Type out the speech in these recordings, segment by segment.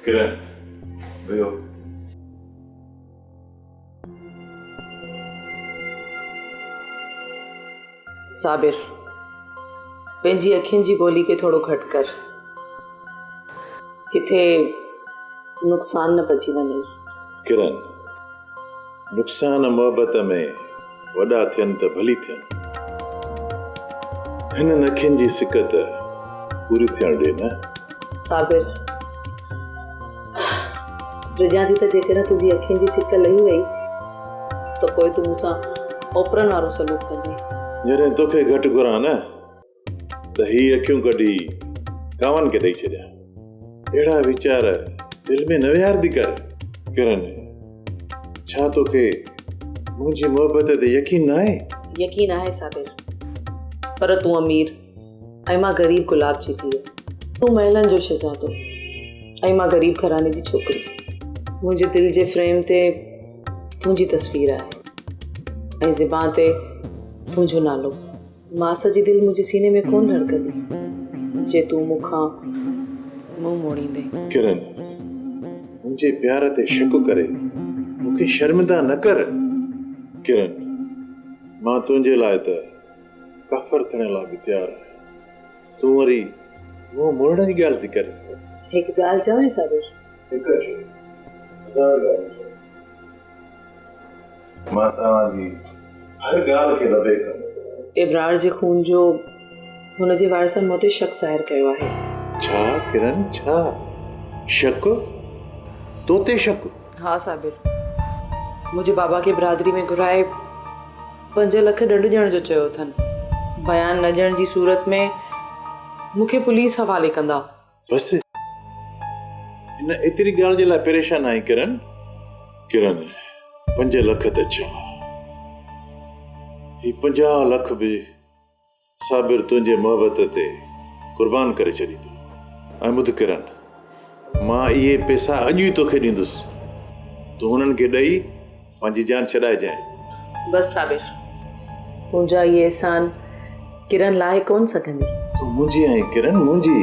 ڪرن ويو. صابر! پنهنجي اکين جي گولي کي ٿورو گهٽ ڪر. ڪٿي نقصان نه پئجي وڃئي. ڪرن! نقصان محبت ۾ وڏا ٿين ته ڀلي ٿين. هنن اکين جي سڪ ته پوري ٿيڻ ڏي نه. صابر، ڊڄان ٿي ته جيڪڏهن تنهنجي اکين جي سڪ لهي وئي ته پوء تون مون سان اوپرن وارو سلوڪ ڪندين. جڏهن توکي گهٽ گهران نه ته هي اکيون ڪڍي ڪاون کي ڏئي ڇڏيان. اهڙا ويچار دل ۾ نه ويهار ٿي ڪر. ڪرن، ڇا توکي منهنجي محبت تي يقين ناهي؟ يقين آهي صابر، پر تون امير ۽ مان غريب گلاب جي ڌيء. تون محلن جو شهزادو ۽ مان غريب گهراڻي جي ڇوڪري. منهنجي دل جي فريم تي تنهنجي تصوير آهي ۽ زبان تي تنهنجو نالو. ماس جي دل منهنجي سيني ۾ ڪونه ڌڙڪندي جي تون مون کان منهن موڙيندين. ڪرن منهنجي پيار تي شڪ ڪري مون کي شرمندا نه ڪر. ڪرن مان تنهنجي لاء ته ڪافر ٿيڻ لاء به تيار آهيان تون وري منهن موڙڻ جي ڳالهه ٿي ڪرين. هڪ ڳالهه چوانء صابر. هڪ ڇو هزار ڳالهيون چوان. مان توهان جي هر ڳالهه کي لبيڪ ڪندس. ابرار جي خون جو هن جي وارثن مون تي شڪ ظاهر ڪيو آهي. ڇا ڪرن ڇا؟ شڪ؟ تو تي شڪ؟ ها صابر. منهنجي بابا کي برادري ۾ گهرائي پنج لک ڏنڊ ڏيڻ جو چيو اٿن. بيان نه ڏيڻ جي صورت ۾ مون کي پوليس حوالي ڪندا. بس ان ايتري ڳالهه جي لاء پريشان آهين ڪرن ڪرن پنج لک ته ڇا هي پنجاهه لک به صابر تنهنجي محبت تي قربان ڪري ڇڏيندو ۽ ٻڌ ڪرن مان اهي پيسا اڄ ئي توکي ڏيندس تون هنن کي ڏئي مانجي جان ڇڏائي جانء. بس صابر! تنهنجا اهي احسان ڪرن لاهي ڪونه سگهندي. تون منهنجي آهين ڪرن منهنجي.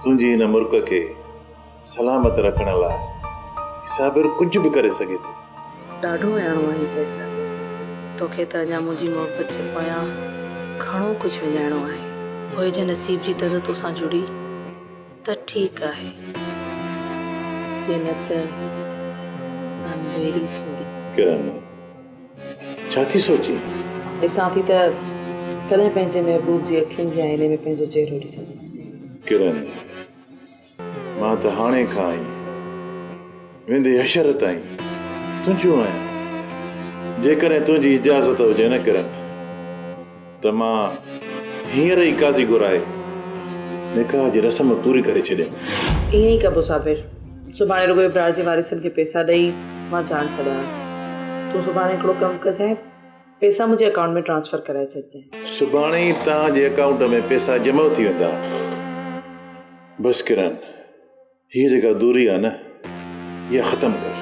تنهنجي هن مرڪ کي سلامت رکڻ لاء هي صابر ڪجهه به ڪري سگهي ٿو. ڏاڍو اهاڻو آهين سيٺ صابر! توکي ته اڃا منهنجي محبت جي پويان گهڻو ڪجهه وڃائڻو آهي. پوء جي نصيب جي تند توسان جڙي. ته ٺيڪ آهي، جي نه ته ڪن ويري سوري. ڪرن، ڇا ٿي سوچين؟ ڏسان ٿي ته ڪڏهن پنهنجي محبوب جي اکين جي آئيني ۾ پنهنجو چهرو ڏسندس. ڪرن، مان ته هاڻي کان ئي. ويندي حشر تائين تنهنجو آهيان جيڪڏهن تنهنجي اجازت هجي نه ڪرن ته مان هينئر ئي قاضي گهرائي نڪاح جي رسم پوري ڪري ڇڏيان. ائين ئي ڪبو صابر. سڀاڻي رڳو ابرار جي وارثن کي پئسا ڏئي مان جان ڇڏايان. تون سڀاڻي هڪڙو ڪم ڪجانء پئسا منهنجي اڪائونٽ ۾ ٽرانسفر ڪرائي ڇڏجانء. سڀاڻي ئي توهان جي اڪائونٽ ۾ پئسا جمع ٿي ويندا. بس ڪرن. هيء جيڪا دوري آهي نه اها ختم ڪر.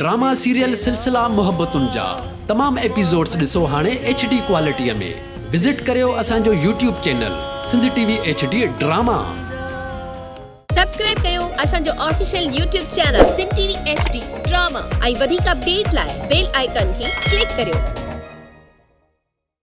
ڊراما سيريل سلسلا محبتن جا تمام ايپيسوڊس ڏسو هاڻي ايڇ ڊي ڪوالٽي ۾ وزٽ ڪريو اسان جو YouTube channel Sindh T V H D drama. Subscribe ڪيو اسان جو official YouTube channel Sindh T V H D drama ۽ وڌيڪ اپڊيٽ لاء بيل آئيڪان کي ڪلڪ ڪريو.